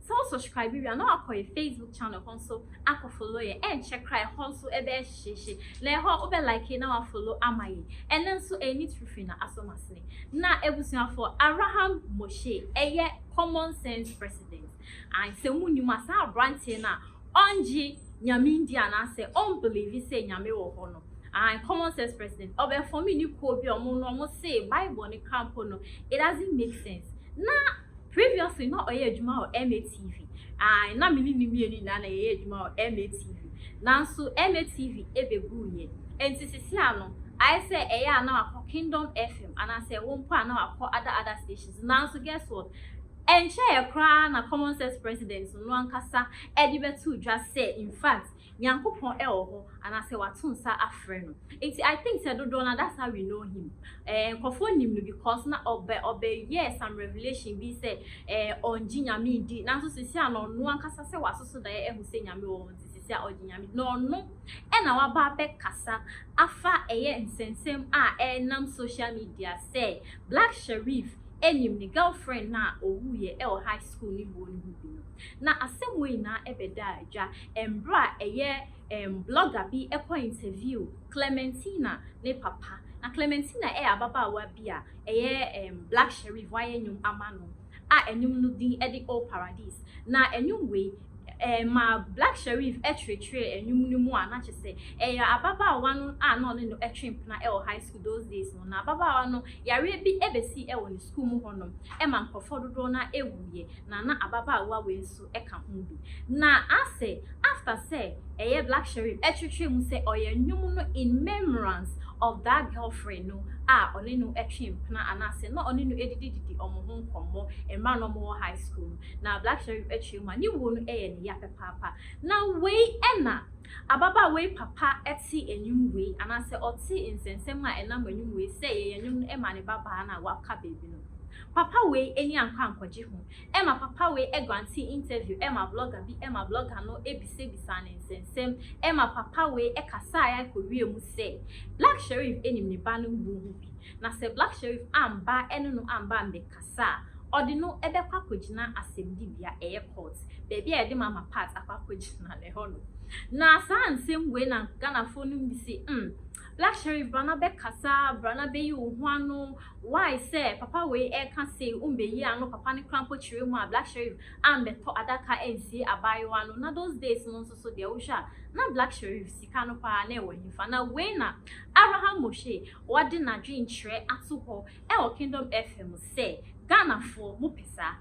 Sɛ wo subscribe wie a na wakɔ yɛ Facebook channel hɔ nso akɔ follow yɛn, ɛnkyɛ koraa ɛhɔ nso ɛbɛyɛ hyehyeehye. Na ɛhɔ wobɛ like na wa follow ama yɛn. Ɛnnɛ nso ɛyɛ Neat Fifiri na asɔ mo asene. Na abusuafoɔ, Abraham Moshe ɛyɛ Common Sense President. Ae, sɛ mo nnim a saa abranteɛ no a ɔngye Nyame ndi anaasɛ ɔn believe sɛ Nyame wɔ hɔ no, ae, Common Sense President, ɔbɛ form ne kuo bi a ɔmo no ɔmo se Bible no kra mpo no it doesn't make sense. Na. Previously na ɔyɛ adwuma wɔ MATV. Ae na me ne no mmienu nyinaa na yɛyɛ adwuma wɔ MATV. Nanso MATV bɛguu yɛ. Ɛnti sesia no ayɛ sɛ ɛyɛ a na wakɔ Kingdom FM anaasɛ ɛwɔ mpo a na wakɔ other other stations. Nanso guess what? Ɛnkyɛeɛ koraa na Common Sense President no ankasa de bɛtoo dwa sɛ in fact Nyankopɔn wɔ hɔ anaasɛ wato nsa afrɛ no nti I think sɛ dodoɔ no ara that's how we know him eh nkorɔfoɔ nim no because na ɔbɛ ɔbɛ yɛɛ some revelation bi sɛ eh ɔngye Nyame ndi nanso sisi a na ɔno ankasa sɛ wasoso daeɛ ahu sɛ Nyame wɔ hɔ nti sisi a ɔgye Nyame di na ɔno na waba abɛkasa afa ɛyɛ nsɛnsɛm a ɛnam social media sɛ Black Sherif nim ne girlfriend no a ɔwuiɛ wɔ high school no wuo no ho bi no na asɛm wei nyinaa bɛdaa dwa Mberɛ a ɛyɛ um blogger bi kɔ interview Clementina ne papa. Na Clementina yɛ ababaawa bi a ɛyɛ um Black Sherif wayɛ nnwom ama no a nnwom no din de Oh Paradise. Na nnwom wei um ma Black Sherif kyerɛkyerɛɛ nnwom no mu a na kyerɛ sɛ ɛyɛ ababaawa no a na ɔne no twe mpena wɔ high school those days no. Na ababaawa no yareɛ bi bɛsii wɔ ne sukuu mu hɔnom ma nkorɔfoɔ dodoɔ no ara wuiɛ. Na na ababaawa wei nso. ka ho bi. Na ase after sɛ ɛyɛ Black Sherif ɛtwetwee mu sɛ ɔyɛ nnwom no in memorance of that girlfriend no a ɔne no ɛtwe mpena anaasɛ na ɔne no ɛdidi didi ɔmo ho nkɔmmɔ mmerɛ a na ɔmo wɔ high school no na Black Sherif ɛtwee mu a ne wuo no ɛyɛ ne ya pɛpaapa. Na wei ɛna ababaawa yi papa ɛte nnwom wei anaasɛ ɔte nsɛnsɛm a ɛnam nnwom wei sɛ yɛyɛ nnwom no ɛma ne babaa no a waka baby no. Papa wei ani ankɔ ankɔgye ho Ɛma papa wei grante interview ɛma blogger bi ɛma blogger no bisabisaa no nsɛnsɛm ɛma papa wei kasaeɛ ara kɔwie mu sɛ Black Sherif nim ne ba no wuo ho bi na sɛ Black Sherif amba ɛne no amba ammɛkasa a ɔde no bɛkɔ akɔgyina asɛmdibea ɛyɛ court baabi a yɛde ma ma part akɔ akɔgyina no ɛhɔ nom na saa nsɛm wei na Ghanafoɔ nom bi se mm Black Sherif bra na bɛkasa bra na bɛyi wo ho ano Why sɛ papa wei ɛka sei ombeyii ano papa no kora mpo kyeree mu a black sherif ambɛtɔ adaka ansie abaayewa no na those days no nso so deɛ wohwɛ a na black sherif sika no paa na ɛwɔ hefa na wei na Abraham Moshe ɔde nadwen kyerɛ ato hɔ ɛwɔ kingdom FM sɛ Ghanafoɔ mopɛ saa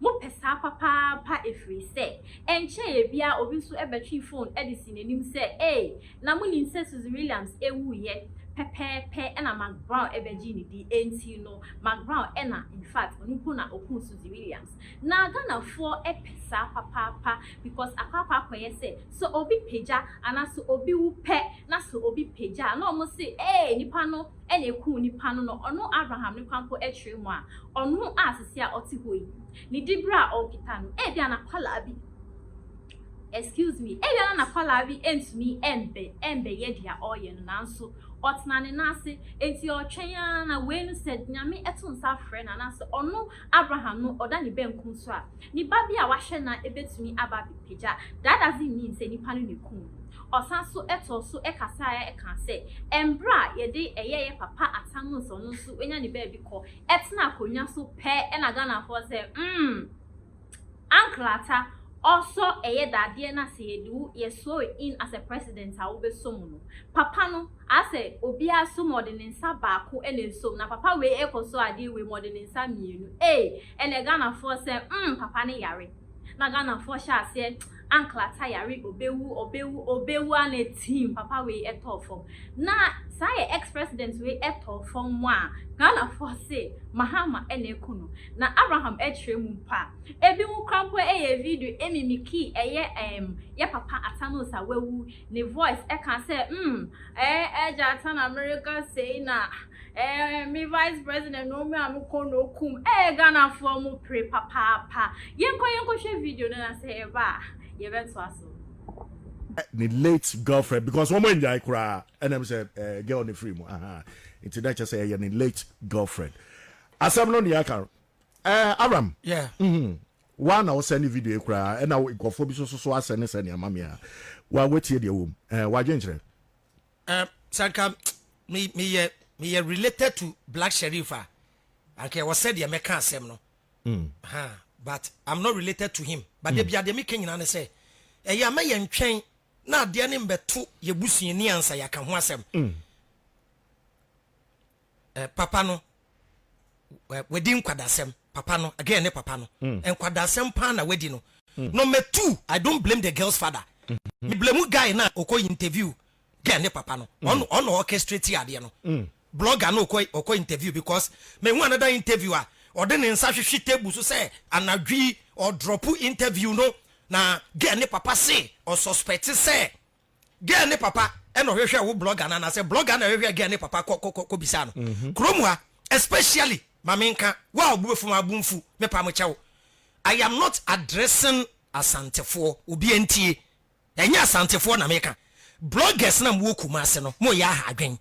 Mopɛ saa papaapa ɛfiri sɛ ɛnkyɛeɛ biara obi nso bɛtwee fon de sii n'anim sɛ, Ei, na monim sɛ Suzy Williams wuiɛ? Pɛpɛɛpɛ na Mark Brown bɛgyee ne din, enti no Mark Brown na in fact ɔno mpo na ɔkuu Suzy Williams. Na Ghanafoɔ pɛ saa papaapa because akɔ akɔ akɔyɛ sɛ, sɛ obi pagya anaa sɛ obi wu pɛ na sɛ obi pagya a na wɔse, Ei, nipa no na ekum nipa no na ɔno Abraham no kwan mpo kyerɛ mu a, ɔno a sesei a ɔte hɔ yi, ne diberɛ a ɔrekita no, ebia n'akwadaa bi, excuse me, ebia na n'akwadaa bi ntumi mbɛ, mbɛyɛ deɛ ɔreyɛ no, nanso ɔtena ne nan ase, enti ɔretwɛn ara na wei no sɛ Nyame to nsa frɛ no anaasɛ ɔno Abraham no ɔda ne bankum so a, ne ba bi a ɔahwɛ no a ebetumi aba abɛpagya daadadze nnyi nsɛ nyimpa no na ekum no. Ɔsan so too so kasae kãa sɛ, Mber a yɛdze yɛyɛyɛ papa atsɛn no nsɛ ɔno so oenya ne baabi kɔ tsena akonnwa so pɛ na Ghanafoɔ dze, mm! Anklata ɔsɔ ɛyɛ dadeɛ na sɛ yɛde wo yɛ sore in as a president a wo bɛ so mu no papa no asɛ obiaa so mu ɔde ne nsa baako na ɛsom na papa wei ɛkɔ so adeɛ wei mu ɔde ne nsa mmienu ee ɛnɛ Ghanafoɔ sɛ mm papa no yare na Ghanafoɔ hyɛ aseɛ anklata yare ɔbɛwu ɔbɛwu ɔbɛwu ana team papa wei ɛtɔɔ fam Na saa yɛ ex president wei tɔ fam mo a Ghana foɔ se Mahama na aku no na Abraham akyerɛ mu mpo a ebi mo kora mpo yɛ video mimikii ɛyɛ emm yɛ papa Atanos a wawu ne voice ɛka sɛ mm eeh agya Ata na mereka sei na eeh me vice president no me a me kɔ na okum eeh Ghana foɔ mo pere papaapa yɛnkɔ yɛnkɔ hwɛ video no na sɛ yɛba a yɛbɛtoa so. ne late girlfriend because wɔn anyae koraa ɛnam sɛ ɛɛ girl ne free mu ahan nti na kyɛ sɛ ɛyɛ ne late girlfriend asɛm no nea aka no ɛɛ Abraham yeah. mm -hmm. wa na ɔsɛ ne video yi koraa ɛna nkɔfoɔ bi soso so asɛ ne sɛ nea ma me a wa watie deɛ wɔm ɛɛ wadwenkyerɛ ɛɛ sanka meyɛ meyɛ related to Black Sherif a anka ɛwɔ sɛ deɛ mɛka asɛm no Ahaa but I'm not related to him but da biaa deɛ meka nyinaa ne sɛ ɛyɛ a mɛ yɛn twɛn na adeɛ ne mbɛto yɛ busuani ansa yɛaka ho asɛm eh, papa no eh, wadi nkwadasɛm papa no again ne papa no mm. nkwadasɛm paa na wadi no mm. number two I don't blame the girl's father mm -hmm. me blame guy na ɔkɔ interview girl ne papa no ɔno mm. ɔno orchestrate adeɛ no mm. Blogger no kɔ ɔkɔ interview because me hu another interview a ɔde ne nsa hwehwe table so sɛ anadwo yi ɔ drop interview no na girl ne papa se ɔ suspect sɛ girl ne papa na ɔhwehwɛ wo blogger no anaa sɛ blogger na ɛhwehwɛ girl ne papa kɔ kɔ kɔ bisa no kurom ha especially ma me nka wo a ɔbuefo ma bo mfu me pa mo kyɛw I am not addressing asantefoɔ obi ntie Ɛnyɛ Asantefoɔ na meka. Bloggers no a mowɔ Kumase no, moyɛ aha adwen.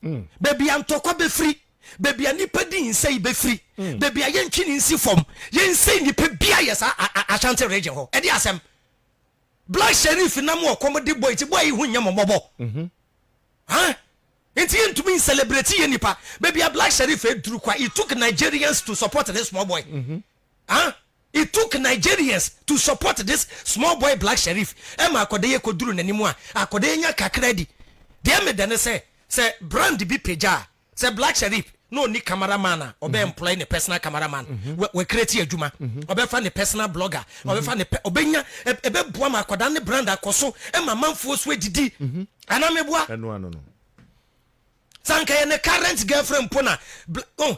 Mm. Baabi a ntɔkwa bɛfiri, baabi a nnipa di nsɛe bɛfiri, mm. baabi a yɛntwe ne nsi fam, yɛnsɛe nnipa bia yɛ saa Ashanti region hɔ. Ɛde asɛm. Black Sheriff nam ɔkɔm de bɔ eti bɔ yi ho nyɛ mo mmɔbɔ. Mhm. Ha? Nti yɛntumi nselebrate yɛ nipa. Baabi a Black Sheriff aduru kwa, it took Nigerians to support this small boy. Mm -hmm. Ha? It took Nigerians to support this small boy Black Sherif ma akɔdaeɛ kɔduru n'anim a akɔdaeɛ nya kakra di. Deɛ meda ne sɛ, sɛ brand bi pagya a, sɛ Black Sherif na ɔnni camera man a, ɔbɛ employ ne personal camera man, wa, wa create adwuma, ɔbɛfa ne personal blogger, ɔbɛfa ne pɛ, ɔbɛnya, ɛ, ɛbɛboa ma akwadaa no ne brand akɔso ma amanfoɔ so adidi. Anaa meboa? Ɛno ano no. Sɛ anka ɛyɛ ne current girlfriend mpo na, bla, oh,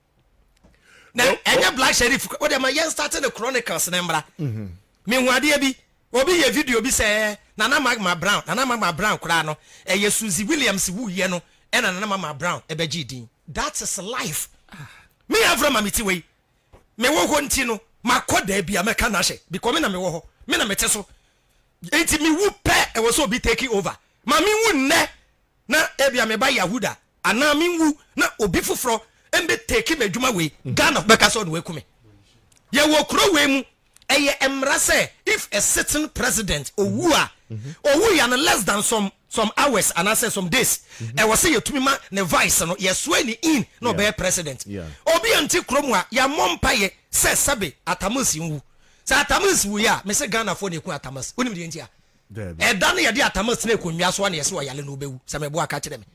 na ɛnyɛ black sheriff o de ma yɛn start ne chronicles ne mmra mhm. mehu adeɛ bi obi yɛ video bi sɛ nana magma brown nana magma brown koraa no ɛyɛ suzy williams wuyɛ no ɛna nana magma brown ɛbɛgye din that is life me afra ma me ti wei me wɔ hɔ nti no makɔ daa bi a mɛka no ahyɛ because me na mewɔ hɔ me na mete so nti mewu pɛ ɛwɔ sɛ obi take over ma mewu nnɛ na ebia me ba yahu da anaa me nwu na obi foforɔ mbɛ take m'adwuma wei Ghana fo bɛka sɛ ɔde waku me yɛ wɔ kuro wei mu ɛyɛ mmara sɛ if a sitting president owu a owu ya no less than some some hours anaasɛ some days ɛwɔ sɛ yɛtumi ma ne vice no yɛsoa ne in na ɔbɛyɛ president obi a nti kuro mu a yɛmmɔ mpayɛ sɛ sɛbe atamas nwu sɛ atamas wu yɛ a me sɛ Ghana fo na ɛku atamas wonim deɛ nti a Daabi. Ɛda no yɛde atama sine konwa so a na yɛse ɔyale no ɔbɛwu sɛ meboa ka kyerɛ me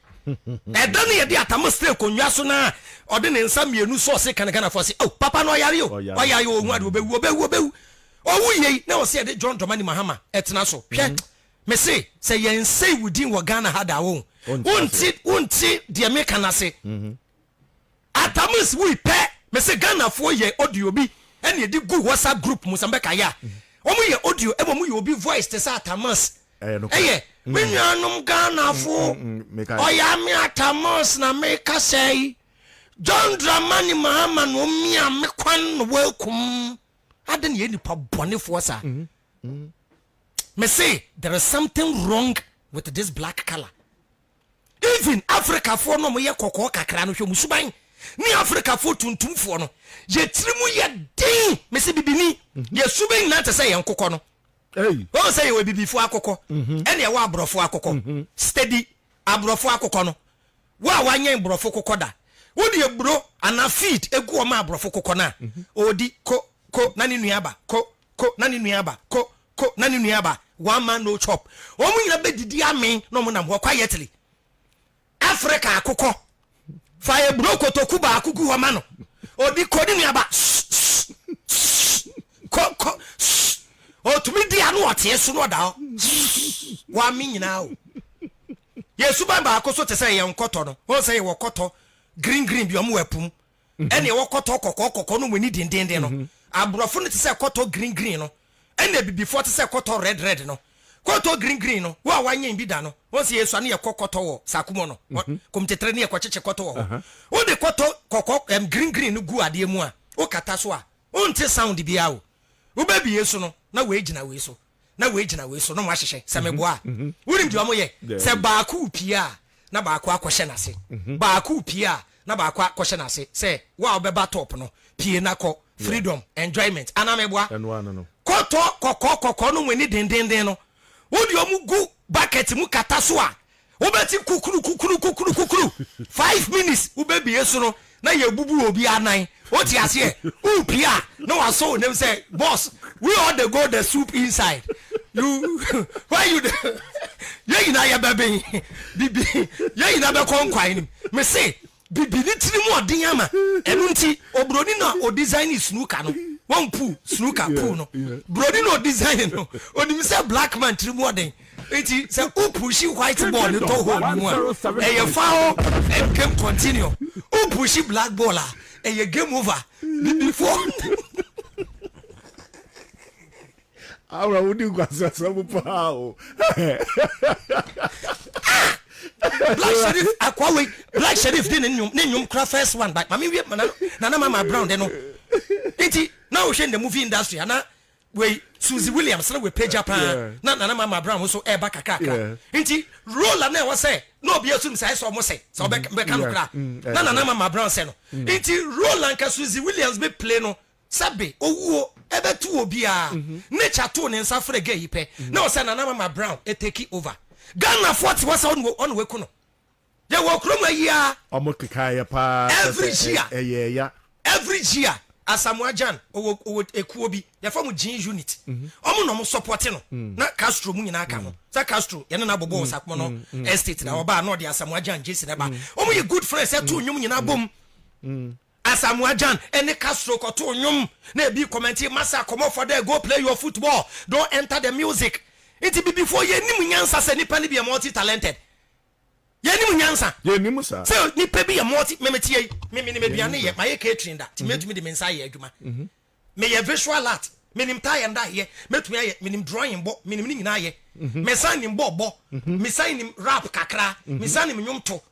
Ɛda no yɛde atama sine konwa so na ɔde ne nsa mmienu sɔ ɔse ka ne Ghanafoɔ se oh papa no ɔyare o Ɔyare. ɔyare o ɔhu ade ɔbɛwu ɔbɛwu ɔbɛwu Ɔwu yei na ɔse yɛde John Dramani Mahama ɛtena so Hwɛ mese sɛ yɛnsei wo din wɔ Ghana ha da a wohu Ɔnte aseɛ. wonte wonte deɛ meka no ase. Atamus wui pɛ mese Ghana foɔ yɛ audio bi ɛna ɛdi gu WhatsApp group mu sɛ mbɛ ka yɛ a wɔn yɛ audio ɛma wɔn yɛ obi voice te sɛ Atamus ɛyɛ me nua nom Ghana foɔ ɔyɛ ame Atamus na me ka sɛ yi John Dramani Mahama na wɔn mia me kwan na wɔn akum adi na yɛ nipa bɔne foɔ saa mese there is something wrong with this black colour. Even Afrikafoɔ no a wɔyɛ kɔkɔɔ kakra no, hwɛ wɔn suban ne Afrikafoɔ tuntumfoɔ no, yɛn tirim yɛ den, mese bibini, yɛn suban nyinaa te sɛ yɛn akokɔ no. Wohu sɛ yɛwɔ abibifoɔ akokɔ ɛne ɛwɔ aborɔfoɔ akokɔ. Steady aborɔfoɔ akokɔ no, wo a wanyɛn borɔfo kokɔ da, wode aburo anaa feed gu wɔn ma aborɔfo kokɔ no a, ɔredi ko ko na ne nua aba, ko ko na ne nua aba, ko ko na ne nua ba one man no chop wɔn nyina bɛ didi amen na wɔn nam hɔ quietly Africa akokɔ fa eburo kotoku baako gu hɔ ma no odi ko ne nua ba ko ko otumi di ano ɔteɛ so na ɔda hɔ wɔn ame nyinaa o yɛ suban baako so te sɛ yɛn kɔtɔ no wɔn sɛ yɛ wɔ kɔtɔ green green bi wɔn wɔ apum ɛne ɛwɔ kɔtɔ kɔkɔɔ kɔkɔɔ no mu ani dendeenden no. Aborɔfo no te sɛ kɔtɔ green green no, ɛna abibifoɔ te sɛ kɔtɔ red red no. Kɔtɔ green green no, wo a wanyɛn bi da no, wohu sɛ yɛsua no yɛkɔ kɔtɔ wɔ Sakumo no, Komtetre ne yɛkɔkyekye kɔtɔ wɔ hɔ. Wode kɔtɔ kɔkɔɔ, ɛm, green green no gu adeɛ mu a, wokata so a, wonte sound biara o. Wobɛbue so no, na woagyina wei so. na wei gyina wei so na wɔahyehyɛ sɛ mhm. meboa a mhm. wonim deɛ ɔmo yɛ sɛ baako pie a na baako akɔhyɛ n'ase mhm. baako pie a na baako akɔhyɛ n'ase sɛ wo a wobɛba top no pie na kɔ freedom enjoyment anaa meboa kɔtɔ kɔkɔɔ kɔkɔɔ no mu ani dendenden no wode ɔmo gu bucket mu kata so a Wobɛte kukurukukuru-kukuru-kukuru, five minutes wobɛbie so no na yɛbubu obi anan, wote aseɛ, wopie a na wasɔ wo nem sɛ boss we all the go the soup inside you why you the yɛn nyinaa yɛbɛben bibi yɛn nyinaa bɛkɔ nkwan no mu mese Bibi ne tiri mu ɔden ama ɛno nti oburoni no a ɔdesignee snooker no, wɔn pool, snooker pool no, buroni no a ɔdesignee no, ɔnim sɛ black man tiri mu ɔden nti sɛ wo pushi white ball no tɔ hole no mu a, ɛyɛ foul and game continue. Wo pushi black ball a, ɛyɛ game over. Bibifoɔ. Aura wo di nkwaseasɛm paa o. Black Sherif akwa wei Black Sherif de ne nnwom ne nnwom kora first one by mame wie mana nana mama brown de no nti na wohwɛ in the movie industry ana wei Susie Williams na wepagya paa na nana mama brown nso ɛreba kakrakra nti role a na ɛwɔ sɛ na obi asum sɛ ɛsɛ ɔmo sɛ sɛ ɔbɛka no kora na nana mama brown sɛ no nti role anka Susie Williams be play no Sɛ be owuo ɛbɛto obiaa. Nature too ne nsa frɛ gay yi pɛ na ɔsɛ Nana Mama Brown ɛtake over. Ghanafoɔ te hɔ sɛ ɔne waku no. Yɛwɔ kurom ha yi ara. Ɔmo kekaa yɛ paa kyerɛ sɛ ɛyɛɛ ya. Every year Asamoah Gyan ɔwɔ ɔwɔ ekuo bi yɛfrɛ ɔmo Gyin Unit ɔmo na ɔmo sɔpɔte no na Castro mo nyinaa ka ho sɛ Castro yɛne no abɔbɔ wɔ Sakpono Estate na ɔbaa na ɔde Asamoah Gyan Jason ɛba ɔmo yɛ good friends ɛtoo nnwom nyinaa bom Asamoah Gyan ne Castro kɔtoo nnwom na ebi kɔmɛntee Massa kɔmmɔ fɔ dɛ go play your football, don't enter the music. Ntsi Bibifoɔ yɛnnim nyansa sɛ nipa no bi yɛ multi talented. Yɛnnim nyansa Yɛnnim saa. sɛ nipa bi yɛ multi Me mete ha yi, me menim aduane Yɛnnim yɛ, saa. mayɛ catering da nti mɛtumi de me nsa ayɛ adwuma. Meyɛ visual art, menim tie and dye yɛ, mɛtumi ayɛ, menim drawing bɔ, menim ne nyinaa yɛ. Mesan nim bɔɔl bɔ, mesan nim rap kakra, mesan nim nnwom to.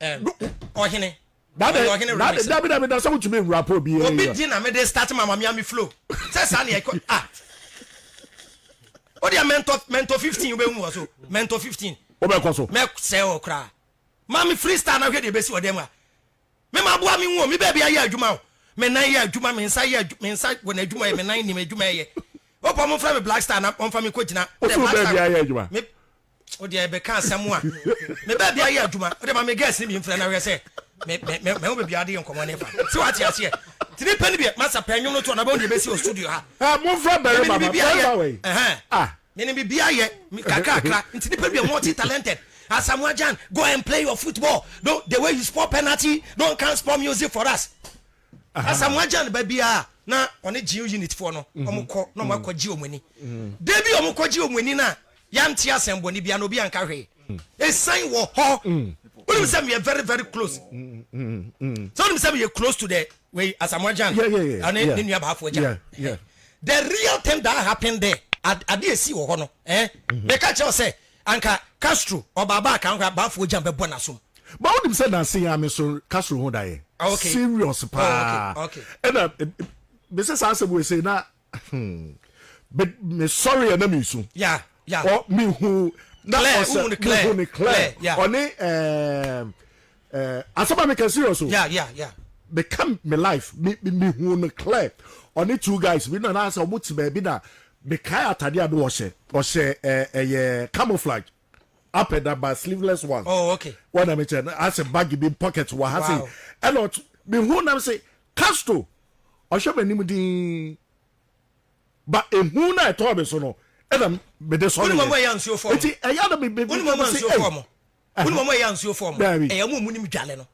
Ɔhene. Dade ɔhene dade dabi dabi da sɛ wotumi nwura pɔ obi yɛ. Obi di na me de start ma ma mi ami flow. Sɛ saa na ɛkɔ ah. O deɛ mɛntɔ mɛntɔ fifteen o bɛ hu wɔ so mɛntɔ fifteen. O bɛ kɔ so. Mɛ sɛ o kura. Ma mi freestyle na hwɛ deɛ ebesi ɔdɛm a. Me ma aboa mi hu o mi bɛɛ bi ayɛ adwuma o. Me nan yɛ adwuma me nsa yɛ adwuma me nsa wɔ na adwuma yɛ me nan nim adwuma yɛ. O pɔ mo fɛ mi black star na wɔn fa mi ko gyina. O so bɛɛ bi ayɛ adwuma. o deɛ ɛbɛka asɛm a me baabi ayɛ adwuma o deɛ ma me girls ne bi mfrɛ na hwɛ sɛ me me me me ho baabi ade yɛ nkɔmɔ ne fa sɛ wate aseɛ ti ne pɛ ne bi masa pɛ nwom no to ɔnabɛn deɛ bɛsi wɔ studio ha ah, mo nfra bɛrɛ ma ma bɛrɛ ma wɛ ah me ne bibi ayɛ kakrakra nti ne pɛ bi multi talented Asamoah Gyan go and play your football don't the way you spoil penalty don't come spoil music for us. Asamoah Gyan ba biara a na ɔne Gyew unit foɔ no wɔn kɔ na wɔn akɔ gye wɔn ani. Da bi a wɔn kɔ gye wɔn ani no a yante asɛnbɔne biara na obi anka hwee. Esan wɔ hɔ. Wonim sɛ meyɛ very very close. Sɛ wonim sɛ meyɛ close to the wei Asamoah Gyan ɛne ne nua baafoɔ Gyan. The real thing that happened there ade esi wɔ hɔ no eh meka kyerɛ sɛ. Anka Castro ɔbaaba a kan koraa baafoɔ gyan bɛbɔ n'asom. But wonim sɛ nanse yɛn a me nso Castro ho da yɛn Oh okay serious oh okay paa okay. ɛna mesɛ saa asɛm wei sei na hmm me me sɔre a na me su Yeah yeah. ɔ me hu na Claire ɔsɛ wohu no me hu Claire no Claire Claire yeah. ɔne ɛɛm Eh, asɛm a meka serious o. Yeah, yeah, yeah. Meka me life, me me me hu no clear. Ɔne two guys bi na na sɛ ɔmo te baabi na mekae atade a na ɔhyɛ. Ɔhyɛ eh, ɛyɛ camouflage up and down but sleeveless one. Oh, okay. Wɔn na mekyɛ no asɛ bag bi pocket wɔ ha se. Wow. Ɛna ɔt me hu nam se Castro ɔhwɛ m'anim dinn ba ehu na ɛtɔɔ me so no ɛna mede sɔre Wone yɛ. wɔn a ɛyɛ ansuo fɔɔ mo? Eti ɛyɛ na me me Wone wɔn a me se ansuo fɔɔ ei. mo? Wonim wɔn a ɛyɛ ansuofoɔ mo? Daabi. Ɛyɛ wɔn a wɔnim dwale no.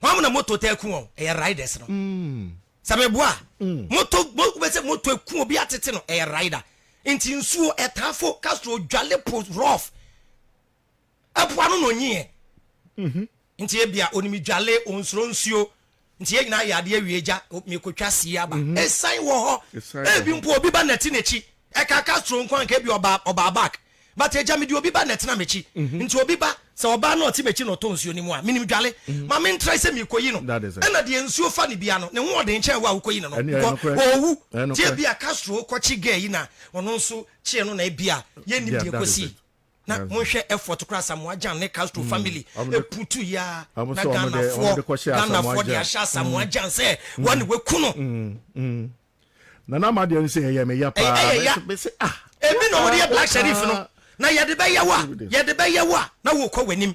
Wɔn na moto taa ku wɔn, ɛyɛ riders no. Mm. Sɛ meboa a, mm. moto, mo, wobɛsɛ moto aku obi atete no, ɛyɛ rider. Nti nsuo ɛtaa fo, Castro dwale po rough. Ɛpoa no na ɔnyiɛ. Mm -hmm. Nti ebia onim dwale, onsuro nsuo. Nti yɛn nyinaa yɛ adeɛ awie agya, merekɔtwa sie aba. Ɛsan wɔ hɔ. Ebi mpo obi ba nati n'akyi. Ɛkaa Castro nko a anka ebia ɔbaa, ɔbaa back. But agya mede obi ba na ɛtena m'akyi. Nti obi ba, sɛ ɔbaa na ɔte m'akyi na ɔtɔ nsuo no mu a, menim dwale. Ma mentrae sɛ merekɔyi no. Ɛna deɛ nsuo fa no biara no, ne ho ɔden kyɛn wo a wokɔyi no no, because ɔɔwu. Nti ebia Castro kɔkye girl yi na ɔno nso kyeɛ no na ebia yɛnnim deɛ ɛkɔsii. na monhwɛ effort kora Asamoah Gyan ne Castro mm. family ɛputu yi a na Ghanafoɔ Ghanafoɔ de ahyɛ Asamoah Gyan mm. sɛ mm. wɔne waku no nana ama deɛ no sɛ ɛyɛ me ya paa ɛyɛ ya ah, ebi na wɔde yɛ black sheriff no na yɛde bɛyɛ wa yɛde bɛyɛ wa na wɔkɔ w'anim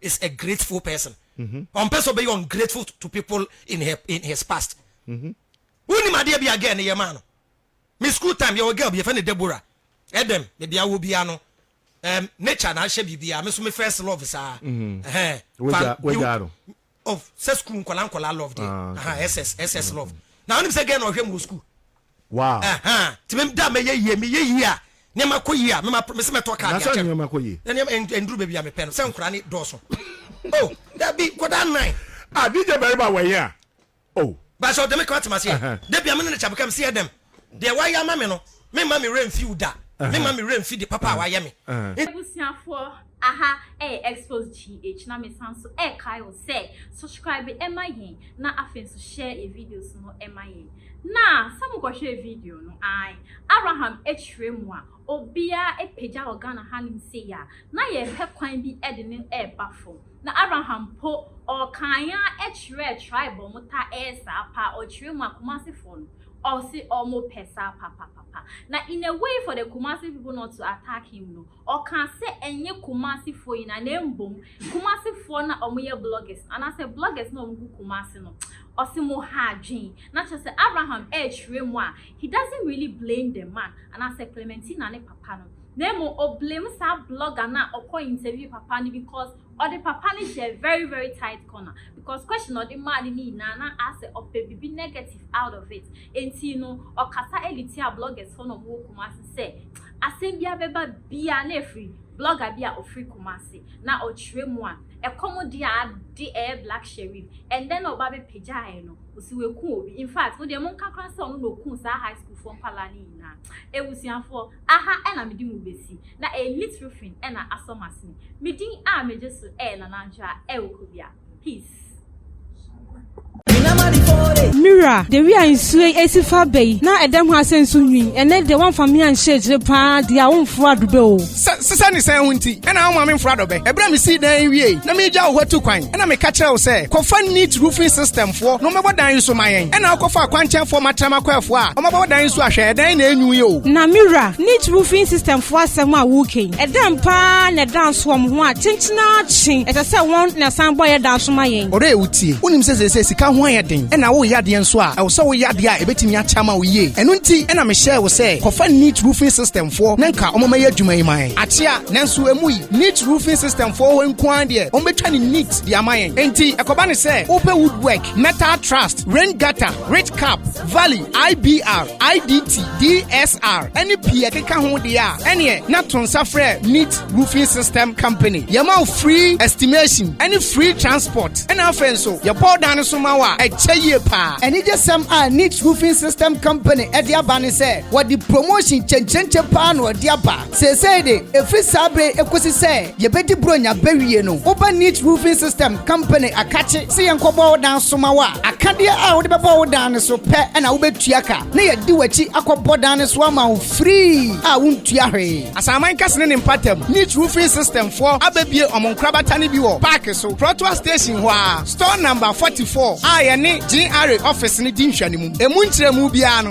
is a grateful person ɔmpɛ sɛ ɔbɛyɛ ungrateful to people in her in his past wonim adeɛ bi a girl no yɛ maa no me school time yɛwɔ girl bi yɛfɛ no Deborah ɛdɛm baabi a wɔ biara no um, nature na ahyɛ biribiara me so me first love saa wagya of sɛ school nkɔla nkɔla love deɛ ah, ss ss love na wonim sɛ girl na ɔhwɛ mu wɔ school Wow. Ɛhã, nti me da a mɛyɛ yie, meyɛ yie a, nneɛma kɔ yie a, mema me se mɛtɔ kaa de akyɛ no. Anaasɛ nneɛma kɔ yie. Na nneɛma ɛn ɛnduru baabi a mepɛ no, sɛ nkwadaa no dɔɔso. Oh, dabi, nkwadaa nnan. Ah, DJ Bariba wɔ yea. Oh. But sɛ ɔde me kra te m'aseɛ. Ɛhã. Da bi a me ne no kyɛ abeka, me se yɛ dɛm, deɛ wayɛ ama me no, memma me werɛ mfi wo da. Ɛhã. Memma me werɛ mfi de papa a wayɛ me. Ɛhã. Abusuafoɔ, Aha ɛyɛ Expose GH na me san so ɛɛkae wo sɛ subscribe ɛma yɛn na afei nso share yɛ videos no ɛma yɛn. Na sɛ mo kɔ hwɛɛ video no ae Abraham ɛkyerɛ mu a obiaa ɛpagya wɔ Ghana hanom sei a na yɛɛpɛ kwan bi ɛde no ɛɛba fam. Na Abraham mpo ɔɔkae ara ɛkyerɛɛ tribe a ɔmo taa ɛyɛ saa paa ɔkyerɛ mu a Kumasi foɔ no ɔse ɔmo pɛ saa papapapa. Na in a way for the Kumasi people not to attack him no Ɔkaa sɛ ɛnyɛ Kumasefoɔ nyinaa na mbom Kumasefoɔ no a wɔyɛ bloggers no anaasɛ bloggers no a wɔgu Kumase no, ɔse moha adwen. Na kyerɛ sɛ Abraham ɛɛkyerɛ mu a, he doesn't really blame the man anaasɛ Clementina ne papa no, na mmom ɔblame saa blogger no a ɔkɔ interview papa no because Ɔde papa no hyɛɛ very very tight corner because question a ɔde maa no no nyinaa na asɛ ɔpɛ biribi negative out of it nti no ɔkasa de tiaa bloggers foɔ na ɔmo wɔ Kumasi sɛ asɛm biara bɛba biara na ɛfiri blogger bi a ɔfiri Kumasi na ɔkyerɛ mu a ɛkɔm de a de ɛyɛ Black Sherif ɛndɛ na ɔba bɛ pagyaeɛ no ɔsi wɛku obi infact mo deɛ monka koraa sɛ ɔno na ɔkuu saa high school foɔ nkwadaa no nyinaa abusuafoɔ Aha na mede mo besi, na ɛyɛ little fin na asɔ m'asene. Me din a megye so yɛ Nanantwa Ew Kobia. Peace. Mira, de wi a nsuo yi esi fa aba yi, na ɛda mu ha sɛ nsu nwi. Ɛnnɛ deɛ woamfa me anhyɛ akyire paa deɛ a womforo adobɛ o. Sɛ sesɛ ne sɛn ho nti na woma memforo adobɛ? Ɛberɛ a mesii dan yi wiei na meregyaw hɔ atu kwan. Ɛna meka kyerɛɛ wo sɛ, Kɔfa Neat Roofing System foɔ na wɔmmɛbɔ dan yi so ma yɛn. Ɛna wokɔfaa Kwankyɛnfoɔ Matrɛm Akwaafoɔ a wɔabɛbɔ dan yi so a, hwɛ, ɛdan yi na ɛnwu yi o. Na me wura, Neat Roofing System foɔ asɛm a woka yi, ɛdɛn paa na ɛda nso wɔn ho a kyenkyen ara kye ɛsɛ sɛ wɔn na ɛsan bɔ yɛn dan so ma yɛn? Ɔdɔ yɛ wo tie. Wonim sɛ seesei sika ho ayɛ den, ɛna woreyɛ adeɛ nso a, ɛwɔ sɛ woyɛ adeɛ a ɛbɛtumi akyɛ ama wo yie. Ɛno nti na mehyɛɛ wo sɛ, Kɔfa Neat Roofing System foɔ na nka wɔmmɛyɛ adwuma yi ma yɛn. Akyea, nanso emu yi. Neat Roofing System foɔ hɔ nko ara deɛ wɔbɛtwa ne neat de ama yɛn enti ɛkɔba ne sɛ wopɛ wood work metal trust rain gutter rich cap valley ibr idt dsr ɛne pii ɛkeka ho deɛ a ɛneɛ na to nsa frɛ neat roofing system company yɛma wo free estimation ɛne free transport ɛna afei nso yɛbɔ dan no so ma wo a ɛkyɛ yie paa anigyesɛm a neat roofing system company ɛde aba ne sɛ wɔde promotion kyɛnkyɛnkyɛ paa na wɔde aba Seesei de, ɛfiri saa bere yi kɔsi sɛ yɛbɛdi Buronya bɛwie no, woba Neat Roofing System Company akakye sɛ yɛnkɔbɔ wo dan so ma wo a, akadeɛ a wode bɛbɔ wo dan no so pɛ na wobɛtua ka, na yɛadi w'akyi akɔbɔ dan no so ama wo firii a wontua hwee. Asaman Kɛse ne ne mpaatam, Neat Roofing System foɔ abɛbue wɔn nkorabata no bi wɔ Paake so, Prɔtoa Station hɔ ara, Store Number 44 a yɛne GRA Office no di nhwɛanimu. Ɛmu nkyerɛmu biara no,